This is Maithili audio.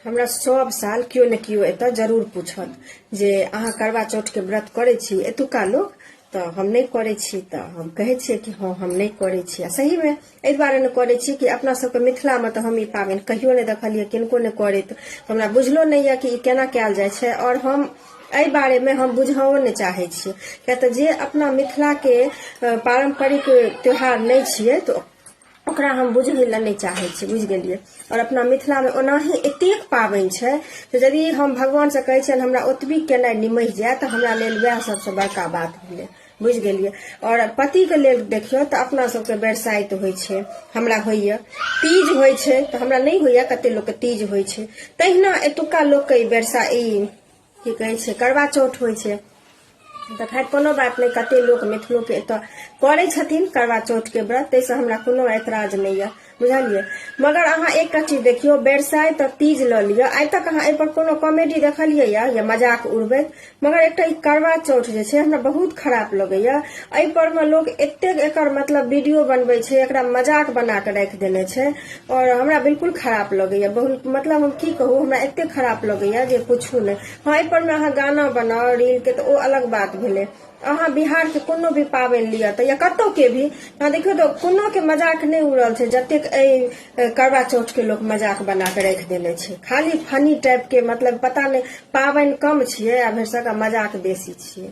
हमरा सब साल केओ ने केओ एतऽ जरूर पूछत जे अहाँ करवा चौठके व्रत करै छी एतुका लोक तऽ हम नहि करै छी तऽ हम कहै छियै कि हँ हम नहि करै छी आ सहीमे एहि दुआरे नहि करै छी कि अपना सबके मिथिलामे तऽ हम ई पाबनि कहियो नहि देखलियै किनको नहि करैत तऽ हमरा बुझलो नहि यऽ कि ई केना कयल जाइ छै आओर हम एहि बारेमे हम बुझहो नहि चाहै छियै किया तऽ जे अपना मिथिलाके अ, पारम्परिक त्यौहार नहि छियै तऽ ओकरा हम बुझै लए नहि चाहै छी बुझि गेलियै आओर अपना मिथिलामे ओनाही एतेक पाबनि छै तऽ यदि हम भगवानसँ कहै छियनि हमरा ओतबी केनाइ निमहि जाय तऽ हमरा लेल वएह सबसँ बड़का बात भेलै बुझि गेलियै आओर पतिके लेल देखियौ तऽ अपना सबके बरसाइत होइ छै हमरा होइए तीज होइ छै तऽ हमरा नहि होइए कते लोकके तीज होइ छै तहिना एतुका लोकके ई बरसा ई की कहै छै करवा चौठ होइ छै तऽ खैर कोनो बात नहि कते लोक मिथिलोके एतऽ करै छथिन करवा चौठके व्रत ताहिसँ हमरा कोनो ऐतराज नहि यऽ बुझलियै मगर अहाँ एकटा चीज देखियौ बेरसाइ तऽ तीज लऽ लिअ आइ तक अहाँ एहिपर कोनो कॉमेडी देखलियै यऽ या मजाक उड़बैत मगर एकटा ई करवा चौठ जे छै हमरा बहुत खराब लगैया एहिपर मे लोक एतेक एकर मतलब वीडियो बनबै छै एकरा मजाक बना कऽ राखि देने छै और हमरा बिल्कुल खराब लगैया बहुत मतलब हम की कहू हमरा एते खराब लगैया जे पूछू ने हाँ एहि पर में अहाँ गाना बनाओ रील के तो ओ अलग बात भेले अहाँ बिहार के कोनो भी पाबनि लिअ तऽ या कतौ के भी अहाँ देखियौ तऽ कोनो के मजाक नहि उड़ल छै जतेक एहि करवा चौथ के लोग मजाक बना के राखि देने छै खाली फनी टाइप के मतलब पता नहि पाबनि कम छियै आ भरिसका मजाक बेसी छियै